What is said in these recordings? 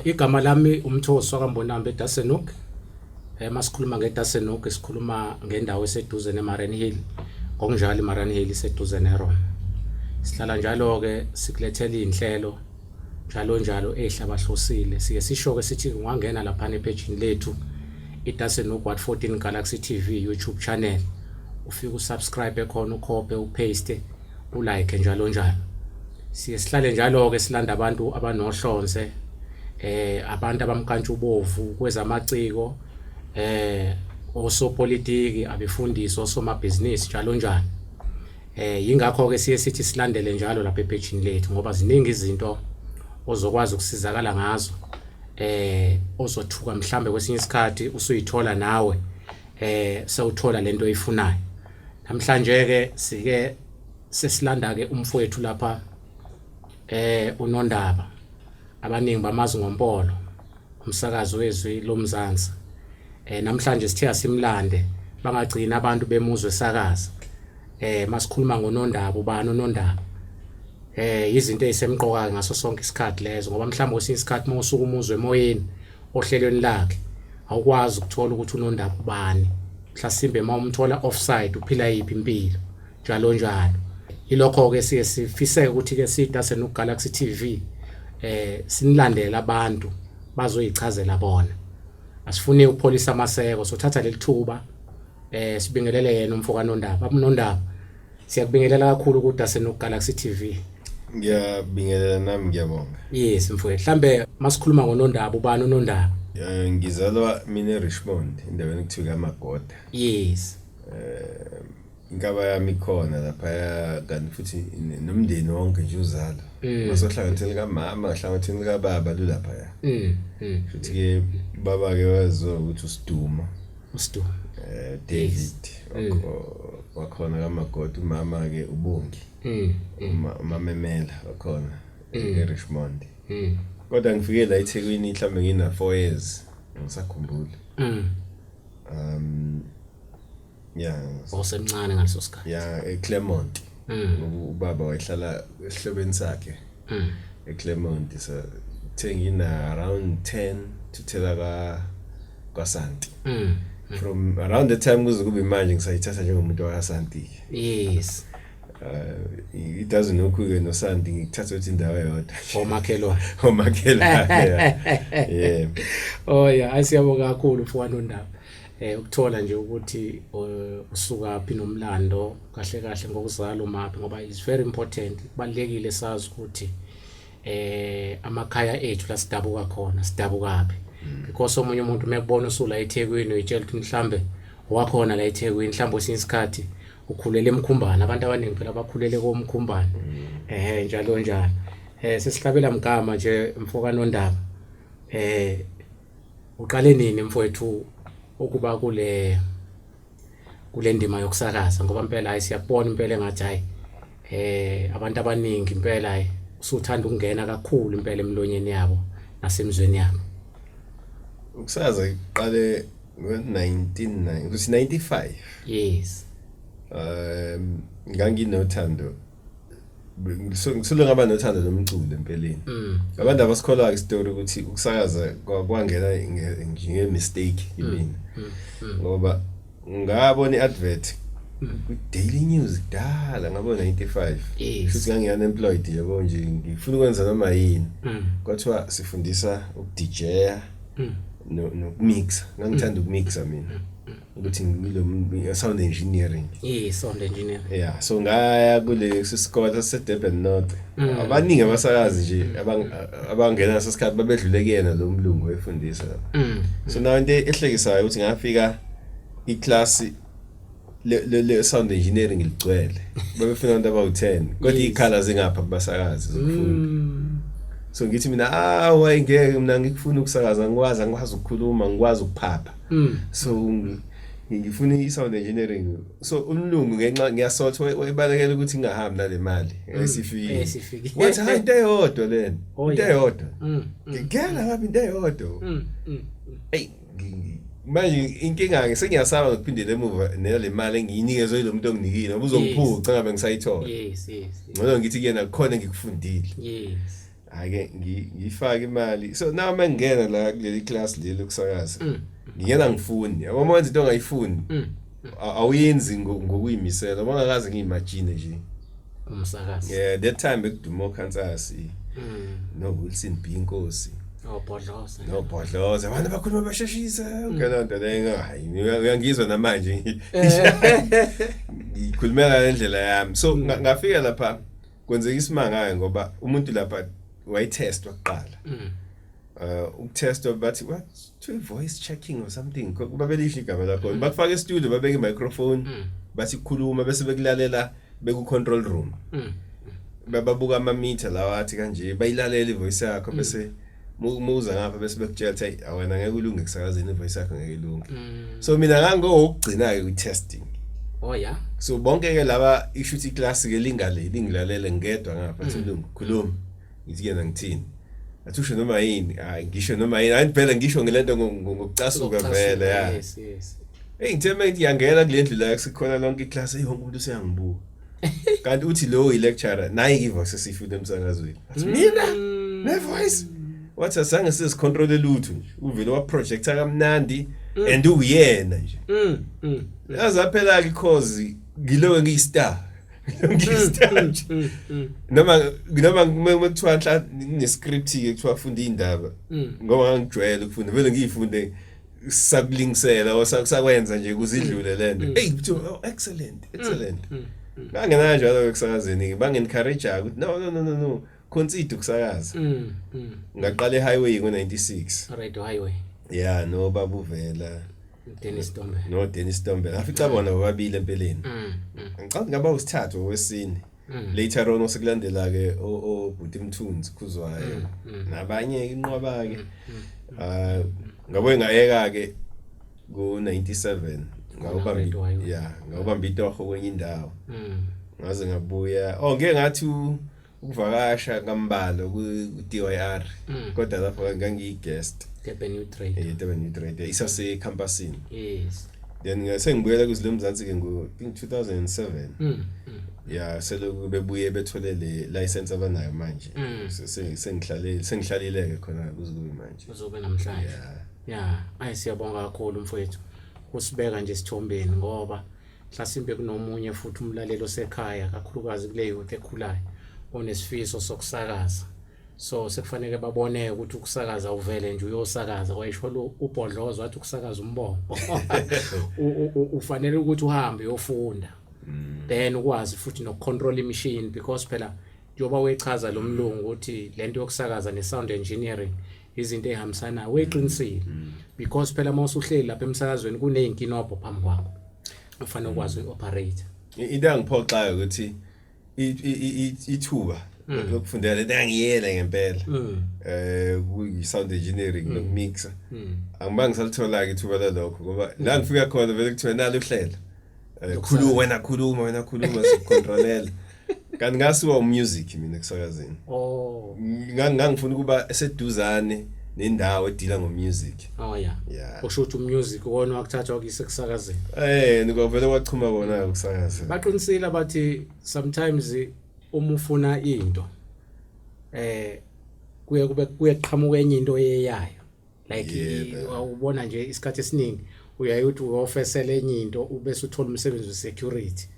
Igama lami uMthosi waKambonambe eDasenuk. Eh masikhuluma ngeDasenuk sikhuluma ngendawo eseduze neMaren Hill. Ngokunjalo iMaren Hill iseduze neRoma. Sihlala njalo ke sikulethela inhlelo njalo njalo ehlabahlosile. Siye sisho ke sithi ungangena lapha nephejini lethu iDasenuk What 14 Galaxy TV YouTube channel. Ufike usubscribe khona ukhophe upaste uLike njalonjalo. Siye sihlale njalo-ke silanda abantu abanohlonze eh abantu abamkantshubovu kwezamaciko eh osopolitiki abefundisi osomabhizinisi njalo njalo eh yingakho ke siye sithi silandele njalo lapha ephejini lethu ngoba ziningi izinto ozokwazi ukusizakala ngazo eh ozothuka mhlambe kwesinye isikhathi usuyithola nawe eh sewuthola lento oyifunayo Namhlanje ke sike sesilanda ke umfowethu lapha eh unondaba abaningi bamazi ngompolo umsakazi wezwi lomzansi eh namhlanje sithe asimlande bangagcina abantu bemuzwe sakaza eh masikhuluma ngonondaba ubani unondaba eh izinto ezisemqoka ngaso sonke isikhathi lezo ngoba mhlawumbe kwesinye isikhathi uma usuka umuzwe emoyeni ohlelweni lakhe awukwazi ukuthola ukuthi unondaba ubani mhlasimbe uma umthola offside uphila yiphi impilo njalo njalo ilokho-ke siye sifiseke ukuthi-ke sida senugalaxy t v um eh, sinilandele abantu bazoyichazela bona asifuni ukupholisa amaseko sothatha leli thuba um sibingelele yena umfokanondaba abunondaba Siyakubingelela kakhulu ukuthi asenu Galaxy TV. Ngiyabingelela nami ngiyabonga. Yes mfowethu. Mhlambe masikhuluma ngonondaba ubani unondaba? Eh ngizalwa mina eRichmond endaweni kuthiwa kaMagoda. Yes. Eh inkaba yami ikhona lapha kanti futhi nomndeni wonke nje uzalo. Mm. Masohlanganisela kamama, hlanganisela kababa lulapha ya. Mm. mm. Futhi ke baba ke waziwa ukuthi usiduma. uStu eh David wakhona kaMagodi umama ke ubongi umamemela wakhona eRichmond kodwa ngifike la eThekwini mhlambe ngina 4 years ngisakhumbula um yeah osemncane ngaleso sikhathi yeah eClermont ubaba wayehlala esihlobeni sakhe mm. eclermont so kuthe ngina around 10 thithela ka kwasanti mm. mm. from around the time kuze kube manje ngisayithatha njengomuntu wakasanti yes uh, it doesn't know kuke no Santi ngikuthatha ukuthi indawo yodwa omakhelwa omakhelwa yeah oh yeah asiyabonga kakhulu mfowano ndaba eh ukuthola nje ukuthi uh, usuka phi nomlando kahle kahle ngokuzala umaphi ngoba is very important kubalekile sazi ukuthi eh amakhaya ethu la sidabuka khona sidabukaphi mm. because omunye umuntu mekubona usula eThekwini uyitshela ukuthi mhlambe wakhona la eThekwini mhlambe usinye isikhathi ukhulele emkhumbana abantu abaningi phela bakhulele komkhumbana mm. eh njalo njalo eh sesihlabela mgama nje mfokano ndaba eh uqale nini mfowethu ukuba kule kule ndima yokusakaza ngoba impela hayi siyakubona impela engathi hayi eh abantu abaningi impela hayi usuthanda ukungena kakhulu impela emlonyeni yabo nasemzweni yabo ukusakaza iqale ngo-1995 yes um nganginothando ngisule ngaba nothando lomculo empeleni mm. abantu abasikholwa istory ukuthi ukusakaza kwangena nge mistake mm. yimina mm. ngoba ngabona iadvert ku daily news dala ngabo 95 futhi ngangi unemployed yabo nje ngifuna ukwenza noma yini kwathiwa sifundisa ukudija no no mix ngangithanda ukmixa mina ukuthi ngilo sound engineering eh sound engineering yeah so ngaya kule sisikole saseDurban North mm. abaningi abasakazi nje abangena ngasesikhathi babedlule kuyena lo mlungu efundisa mm. so nayo into ehlekisayo ukuthi ngafika iclass le le sound engineering ligcwele babefuna abantu abawu10 kodwa ikhala zingapha kubasakazi zokufunda mm. so ngithi mina ah wayengeke mina ngikufuna ukusakaza ngikwazi angikwazi ukukhuluma ngikwazi ukuphapha mm. so ngifuna i-sound engineering so umlungu ngenxa ngiyasotha wayebalekela ukuthi ngingahambi nale mali mm. esifikile wathi hayi into eyodwa lena oh, into eyodwa mm, mm. ngigela ngabe into eyodwa eyi manje inkinga ke sengiyasaba ngokuphindela emuva nale mali engiyinikezwe yilo muntu onginikile ngoba uzongiphuca ngabe ngisayithola yes yes ngcono ngithi kuyena kukhona engikufundile yes ake ngifake imali so now uma ngingena la kuleli class leli lokusakaza mm. ngingena ngifuni yabo uma wenza into ongayifuni mm. awuyenzi ngokuyimisela uma ngakaze ngiyimagine nje umsakazi yeah that time bekuduma okhansasi mm. no Wilson B inkosi obhodloza oh, nobhodloza abantu bakhuluma basheshisa ngalo nto leyo hayi uyangizwa namanje eh. ngikhulumela le ndlela yami so ngafika lapha kwenzeka isimanga ngoba umuntu lapha wayitestwa kuqala mm. uh ukutestwa bathi what to voice checking or something kuba belisho igama lakho mm. bakufaka e-studio babeke i-microphone mm. bathi kukhuluma bese bekulalela beku-control room bababuka ama-meter lawa athi kanje bayilalela i-voice yakho bese mm. muza ngapha bese bekutshela ukuthi hey awena ngeke ulunge kusakazini voice yakho ngeke ilunge mm. so mina ngangokugcina ke kwi-testing oh yeah so bonke ke laba isho ukuthi iclass ke lingaleli ngilalele ngedwa ngapha mm. silungu khuluma ngithi kena ngithini athi usho noma yini hayi ngisho noma yini hayi phela ngisho ngelento ngokucasuka vele ya hey ngithe manje yangena kule ndlu la kusikhona lonke iclass eyonke umuntu useyangibuka kanti uthi lowo yi-lecturer nayi ivoice esiyifuna emsakazweni athi mina Mm. ne-voice wathi asange sizicontrole lutho nje uvele waprojecta kamnandi and uwuyena nje Mm, mm. yazi aphela-ke ikhozi ngiloke ngiyi-star ngiyi-star nje Mm, mm, noma noma uma uma kuthiwa nhla nginescript-ke kuthiwa funda iy'ndaba mm. ngoba ngangijwayele ukufunda vele ngiyifunde sakulingisela osakwenza nje kuzidlule mm. lento mm. hey kuthiwa oh, excellent mm. excellent ngangena njalo ekusakazeni bangencourage ukuthi no no no no no consider ukusakaza ngaqala ehighway ngo96 right highway yeah no babuvela Dennis Tombe no Dennis Tombe ngafica bona bobabili empeleni ngicabanga ngaba usithathu wesine Mm. later on osekulandela ke obhuti mthunzi khuzwayo mm, mm. nabanye inqwaba ke ah ngabo engayeka ke ku 97 ngawubamba yeah ngawubamba itoho kwenye indawo ngaze ngabuya oh ngeke ngathi ukuvakasha kambalo ku DYR kodwa lapho ngangiyi guest Durban New Trade eh Durban New Trade isase campusini yes then ngase ngibuyela kuzile mzansi ke ngo think 2007 mm, mm. ya selokhu bebuye bethole le license abanayo manje mm. sengihlalile sengihlalile ke khona kuze kube manje uzobe namhlanje ya ayi siyabonga kakhulu mfowethu kusibeka nje sithombeni ngoba mhlasimbe kunomunye futhi umlaleli osekhaya kakhulukazi kule youth ekhulayo onesifiso sokusakaza so sekufanele babone ukuthi ukusakaza uvele nje uyosakaza wayisho lo ubhodlozo wathi ukusakaza umbongo ufanele ukuthi uhambe uyofunda mm. then ukwazi futhi nokucontrol imishini because phela njengoba wechaza lo mlungu ukuthi lento yokusakaza ne-sound engineering izinto ey'hambisanayo weqinisile mm. because phela uma usuhleli lapha emsakazweni kuney'nkinobho phambi kwakho ufanele ukwazi uyi-operate into engiphoxayo ukuthi ithuba mm. lokufundela lento engiyela ngempela mm. eh kuyi sound engineering mm. nokumixa angibanga ngisalithola ke ithuba lalokho ngoba la ngifika khona vele kuthiwa nalo uhlela eh, khuluma wena khuluma wena khuluma sikontrolela kanti ngasiwa umusic mina kusakazini oh ngangifuna ukuba eseduzane nendawo edila ngomusic Oh yeah. Yeah. Usho ukuthi umusic wona wakuthathwa kuyise kusakazeni. Eh, nikwavele kwachuma kona kusakazeni. Baqinisile abathi sometimes uma ufuna into eh kuye kube kuye qhamuka enye into eyayo. Like awubona nje isikhathi esiningi uyaye uthi uyofesela enye into ubese uthola umsebenzi we security.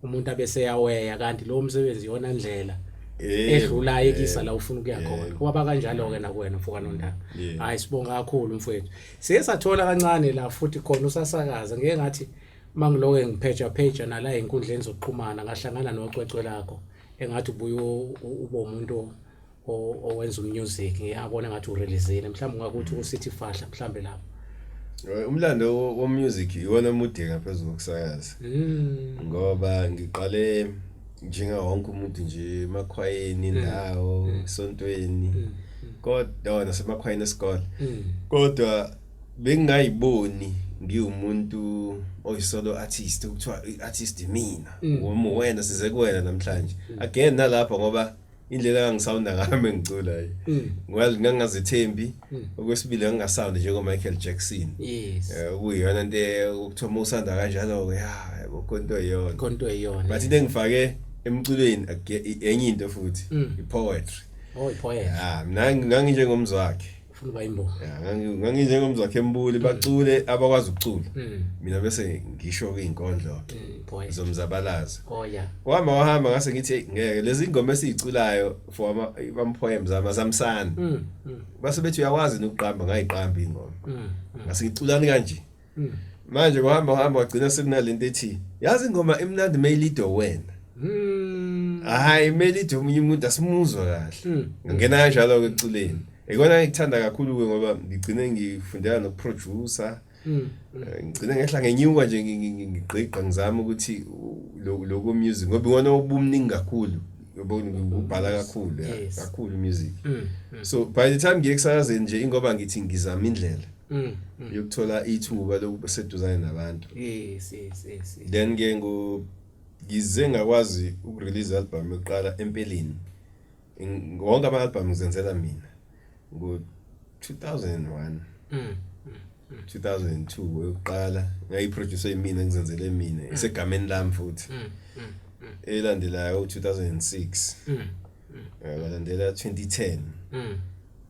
umuntu abeseyaweya kanti lowo msebenzi yona ndlela eh, edlula eh, ekisa la ufuna ukuya eh. khona kwaba kanjalo ke nakuwena mfoka nontanga hayi sibonga kakhulu mfowethu siye sathola kancane la futhi khona usasakaza ngeke ngathi mangiloke ngipheja pheja nala enkundleni zokuxhumana ngahlangana nocwecwe lakho engathi ubuye ubo umuntu owenza umusic abona ngathi urelizile mhlawumbe ungakuthi usithi fahla mhlawumbe lapho eh, umlando womusic iwona mude ngaphezu kokusayazi hmm. ngoba ngiqale njenga wonke umuntu nje emakhwayeni hmm. ndawo hmm. esontweni kodwa nasemakhwayeni esikole kodwa bengingayiboni ngiwumuntu oyisolo artist kuthiwa artist mina wena size kuwena namhlanje again nalapha ngoba indlela engangisawunda ngayo uma ngicula hayi mm. ngoba ngangingazethembi mm. okwesibili ngangingasawundi njengomichael jackson yes eh, okuyiyona nto okuthiwa uma usanda kanjalo-ke ya yabo konto eyona konto eyona but into engifake emculweni enye into futhi mm. i-poetry oh i-poetry ya ah, mina nganginjengomzi wakhe ufuna uba imbongo nganginjengomzakhe embuli bacule abakwazi ukucula hmm. mina bese ngisho kuy'nkondlo hmm, zomzabalazo oh, wahamba wahamba ngase ngithi ngeke lezi ngoma esiyiculayo for ama-poems amazamsana hmm, base bethi uyawazi nokuqamba ngayiqamba ingoma ngase ngiculani kanje mm. manje kuhamba uhamba wagcina sekunalento ethi yazi ingoma imnandi mayilido wena mm. hayi mayilido omunye umuntu asimuzwa kahle mm. ngingena kanjalo ke eculeni ekona ngikuthanda kakhulu ke ngoba ngigcine ngifundela nokuproducer Mm. Eh, ngicine ngehla ngenyuka nje ngigqigqa ngizama ukuthi lokho music ngoba iwona obumningi kakhulu yobona ngibhala kakhulu kakhulu music mm, mm. so by the time ngiye kusakazeni nje ingoba ngithi ngizama indlela Mm, mm. yokuthola ithuba lokuba seduzane nabantu yes yes yes yes. then ke ngo ngize ngakwazi ukurelease album yokuqala empeleni Ng- wonke ama album ngizenzela mina ngo 2001 Mm. 2002 yokuqala ngayiproduce yimina ngizenzele mina isegameni lami futhi Mm. Mm. Mm. elandelayo 2006 Mm. yalandela 2010 Mm.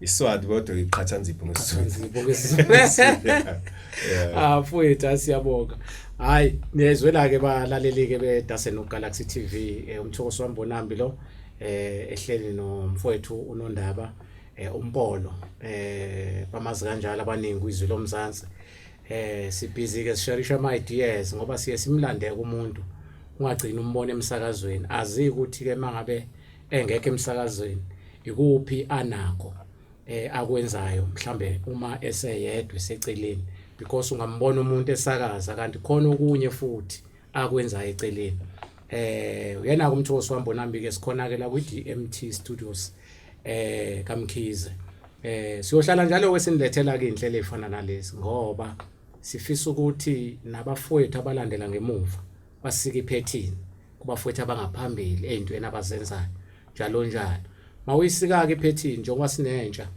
Iswati kodwa iqhatha nzipho ngesizulu. Ah mfowethu asiyabonga. Hayi niyezwela ke balaleli ke bedase no Galaxy TV eh, umthokoso wami bonambi lo eh ehleli no mfowethu unondaba eh umpolo eh bamazi kanjalo abaningi izwi lomzansi. Eh sibhizi ke sisharisha ama ideas ngoba siye simlande kumuntu ungagcina umbone emsakazweni azi ukuthi ke mangabe engekho emsakazweni ikuphi anakho eh akwenzayo mhlambe uma eseyedwa eseceleni because ungambona umuntu esakaza kanti khona okunye futhi akwenzayo eceleni eh uyena kumthosi wambona mbike sikhonake la kwi DMT Studios eh kaMkhize eh siyohlala njalo wesinilethela ke inhlelo efana nalezi ngoba sifisa ukuthi nabafowethu abalandela ngemuva basike iphethini kubafowethu abangaphambili ey'ntweni abazenzayo njalo njalo mawuyisika-ke iphethini njengoba sinentsha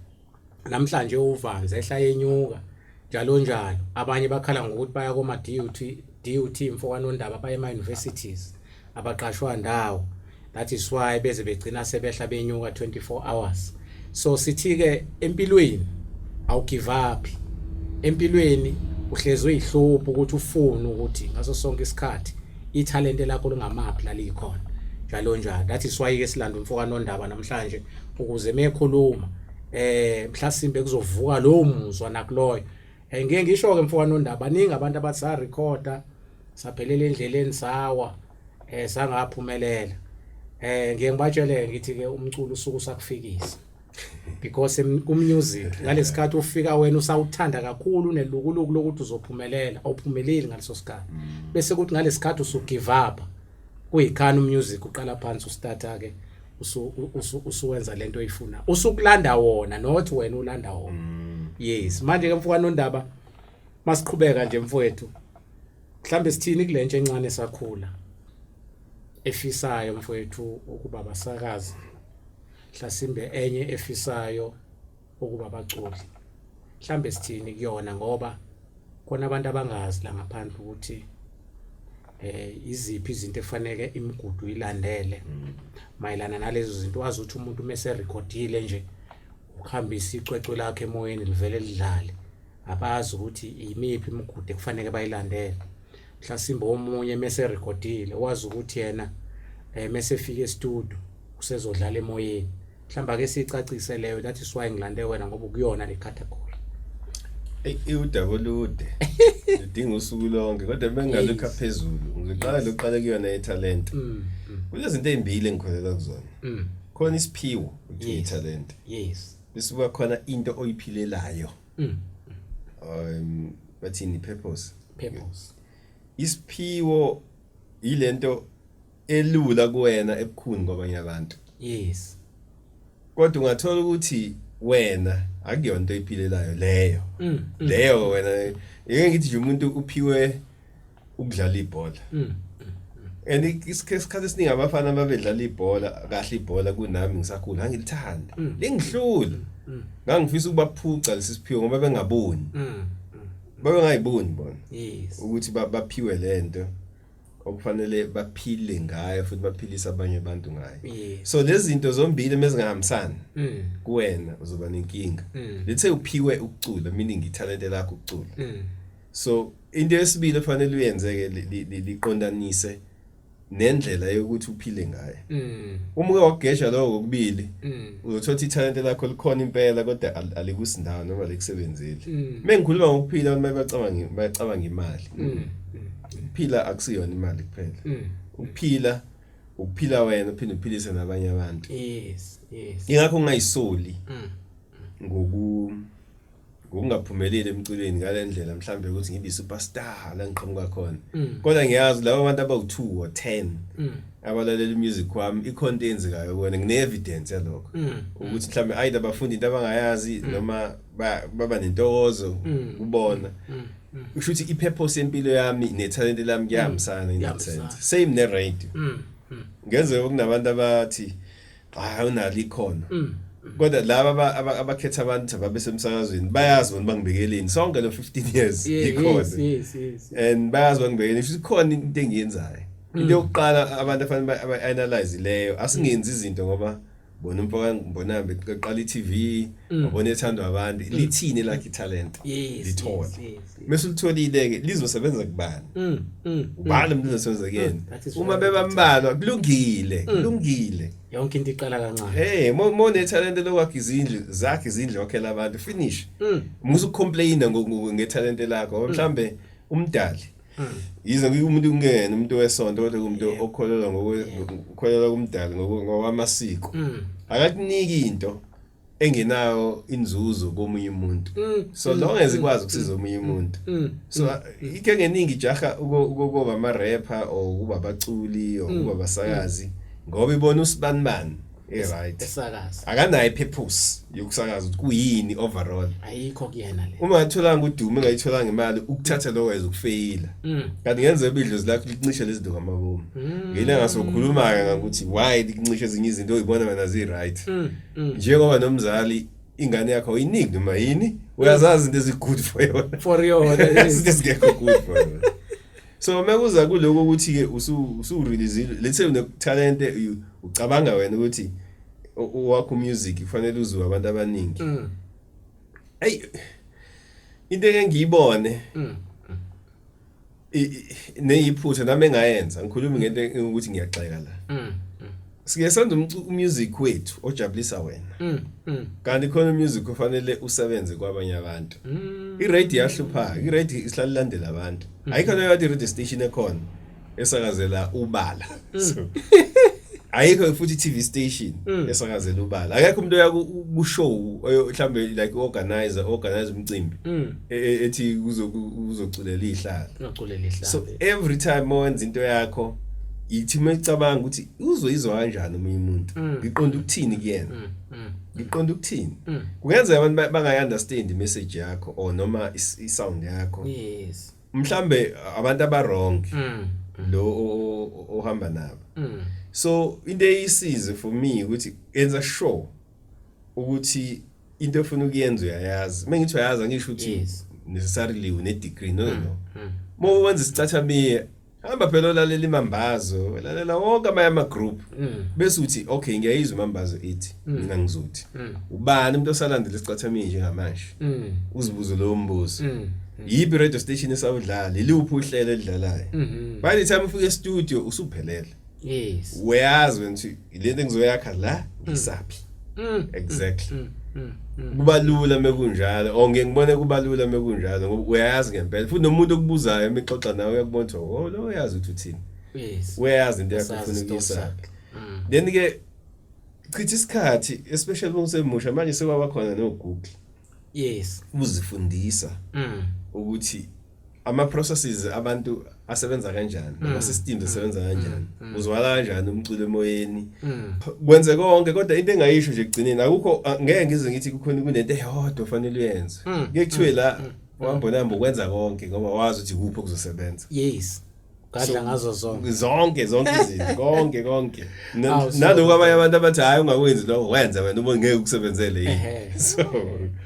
namhlanje uvanzi ehla yenyuka njalo njalo abanye bakhala ngokuthi baya koma-dut dut mfokanondaba baye ema-universities abaqashwa ndawo that is why beze begcina sebehla benyuka 24 hours so sithi ke empilweni awugive up empilweni uhlezwe ihlupho ukuthi ufune ukuthi ngaso sonke isikhathi ithalente lakho lingamaphi lalikhona njalo njalo that is why ke silanda umfoka nondaba namhlanje ukuze mekhuluma eh mhlasimbe kuzovuka lo muzwa nakuloyo eh, ngeke ngisho ke mfoka nondaba ningi abantu abathi sa recorder saphelela endleleni sawa eh sangaphumelela eh ngiye ngibatshele ngithi ke umculo usuku sakufikisa because kummusic ngalesikhathi ufika wena usawuthanda kakhulu nelukuluku lokuthi uzophumelela awuphumeleli ngaleso sikhathi mm. bese kuthi ngalesikhathi usu give up kuyikhani umusic uqala phansi ustarta ke usuwenza lento oyifuna usukulanda wona not wena ulanda wona mm. yes manje ke mfowethu nondaba masiqhubeka nje mfowethu mhlambe sithini kulentsha encane sakhula efisayo mfowethu ukuba basakazi hlasimbe enye efisayo ukuba baculi mhlambe sithini kuyona ngoba khona abantu abangazi la ngaphandle ukuthi eh iziphi izinto efanele imigudu ilandele mm. mayelana nalezo zinto wazi ukuthi umuntu mese recordile nje uhambisa icwecwe lakhe emoyeni livele lidlale abazi ukuthi yimiphi imigudu ekufanele bayilandele mhlasimbe omunye mese recordile wazi ukuthi yena eh mese fika estudio usezodlala emoyeni mhlamba ke sicacise leyo that is why ngilande wena ngoba kuyona le category iwudaba olude udinga usuku lonke kodwa bengalukha phezulu ngiqala lokuqala kuyona italent mm, mm. kunezinto ezimbili engikholela kuzona mm. khona isiphiwo ukuthi italent yes bisuka khona into oyiphilelayo mm. um bathini purpose purpose isiphiwo yilento elula kuwena ebukhuni kwabanye abantu yes kodwa ungathola ukuthi wena akuyona into oyiphilelayo leyo mm, mm. leyo wena ngeke ngithi nje umuntu uphiwe ukudlala ibhola mm, mm, mm. and isikhathi esiningi abafana ababedlala ibhola kahle ibhola kunami ngisakhula ngangilithanda lingihlula ngangifisa ukuba phuca lesi siphiwo ngoba bengaboni babengayiboni bona ukuthi baphiwe lento okufanele baphile ngayo futhi baphilise abanye abantu ngayo so lezi zinto zombili mezingahambisani mm. kuwena uzoba nenkinga mm. lethe uphiwe ukucula meaning italente lakho ukucula mm. so into yesibili efanele uyenzeke liqondanise nendlela yokuthi uphile ngayo mm. uma uke wagesha lokho kokubili mm. uzothola ithalente lakho likhona impela kodwa alikusindawo noma alikusebenzeli mm. mengikhuluma ngokuphila abantu bayacabanga bayacabanga imali ukuphila akusiyona imali kuphela ukuphila ukuphila wena uphinde uphilise nabanye abantu yes yes ingakho ungayisoli ngoku ngokungaphumeleli emculweni ngalendlela mhlambe ukuthi ngibe superstar la ngiqhamuka khona mm. kodwa ngiyazi laba bantu abawu2 or 10 mm. abalalela imusic wami ikhonto eyenzekayo kona ngine evidence yalokho mm. ukuthi mhlambe ayida bafundi into abangayazi noma baba nentokozo kubona usho ukuthi ipurpose yempilo yami nethalente lami kuyahambisana in that sense same ne radio ngenze okunabantu abathi hayi unalo ikhono mm. kodwa laba abakhetha abantu ababesemsakazweni bayazi bona bangibekeleni sonke lo 15 years ikhona and bayazi bangibekeleni futhi khona into engiyenzayo mm. into yokuqala abantu afanele ba-analyze leyo asingenzi izinto ngoba bona umfoka ngibonambe qala i-TV mm. wabona ethandwa abantu lithini lakhe talent lithole mese ulitholile ke lizosebenza kubani mm, mm, mm. ubani umuntu uzosebenza kuyena uma bebambalwa kulungile kulungile yonke into iqala kancane hey mo ne talent lokwakhe izindlu zakhe izindlu wakhela abantu finish musu complain nge talent lakho mhlambe umdali yize umuntu kungena umuntu wesonto kodwa umuntu okholelwa ngokukholelwa kumdali ngokwamasiko akakuniki into engenayo inzuzo komunye umuntu mm, so mm, long as mm, ikwazi ukusiza omunye umuntu so ike ngeningi ijaha ukuba ama rapper or ukuba abaculi or ukuba abasakazi ngoba ibona usibanibani eright esakaza akanayo purpose yokusakaza ukuthi kuyini overall ayikho kuyena le uma athola ngudume ngayithola ngemali ukuthatha lokho as ukufeyila mm. kanti ngenze ibidlo zilakho likuncishe lezinto ngamabomu mm. ngile ngasokhuluma ke ngokuthi why likuncishe ezinye izinto oyibona wena zi right mm. mm. njengoba nomzali ingane yakho uyiniki noma yini uyazazi into ezi-good for yona for yona izinto ezingekho good for yona so uma kuza kuloko ukuthi-ke usureleasile let's say unethalente ucabanga wena ukuthi owakho music kufanele uziwe abantu abaningi mm. eyi into engengiyibone mm. neyiphutha nami engayenza ngikhuluma ngento ukuthi ngiyagxeka la mm, mm. siye senza umusic wethu ojabulisa wena mm, kanti khona umusic ofanele usebenze kwabanye abantu i-radio yahlupha i-radio isihlala ilandela abantu ayikho leyo radio station ekhona esakazela ubala Mm. so ayikho futhi i-TV station Mm. esakazela ubala akekho umuntu oya ku- ku show oyo- mhlambe like organizer organize umcimbi Mm. e- e- ethi kuzo- ku- uzoculela ihlala Ungaculela ihlala. so every time mawenza into yakho yithi uma icabanga ukuthi uzoyizwa kanjani omunye umuntu Mm. ngiqonda ukuthini kuyena Mm, mm, ngiqonda ukuthini mm. kungenzeka abantu ba- bangayi-understand i-message yakho or noma is- i-sound yakho Yes. mhlambe abantu aba wrong mm. lo ohamba nabo mm. so into eyisize for me ukuthi enza sure ukuthi into efuna ukuyenza uyayazi mengithi uyayazi angisho ukuthi necessarily une degree no no mm, mm. uma wenza isicathamie hamba phela olalela imambazo lalela wonke amanye ama-group mm. bese uthi okay ngiyayizwa imambazo ithi mm. mina ngizothi mm. ubani umuntu osalandela isicathamini njengamanje uzibuze lowo mbuzo yiphi radio station esawudlala yiluphi uhlelo elidlalayo mm-hmm. by the time ufika estudio usuphelele yes uyazi wena ukuthi lento engizoyakha la mm. isaphi mm, mm, exactly kubalula mekunjalo or ngeke ngibone kubalula mekunjalo ngoba uyayazi ngempela futhi nomuntu okubuzayo emixoxa nawe uyakubona ukuthi oh lo uyazi ukuthi uthini yes uyayazi into yakho ufuna ukuyisakha then ke chitha isikhathi especially uma usemusha manje sekwaba khona no Google yes uzifundisa ukuthi ama processes abantu asebenza kanjani ama mm. systems mm. asebenza mm. kanjani uzwala kanjani umculo emoyeni kwenze konke kodwa into engayisho nje kugcineni akukho ngeke ngize ngithi kukhona kunento eyodwa ofanele uyenze ngeke kuthiwe la uhamba namba ukwenza konke ngoba wazi ukuthi kuphi okuzosebenza yes gadla ngazo zonke zonke zonke izinto konke konke naloko abanye abantu abathi hayi ungakwenzi lokho wenza wena uma ngeke ukusebenzele yini so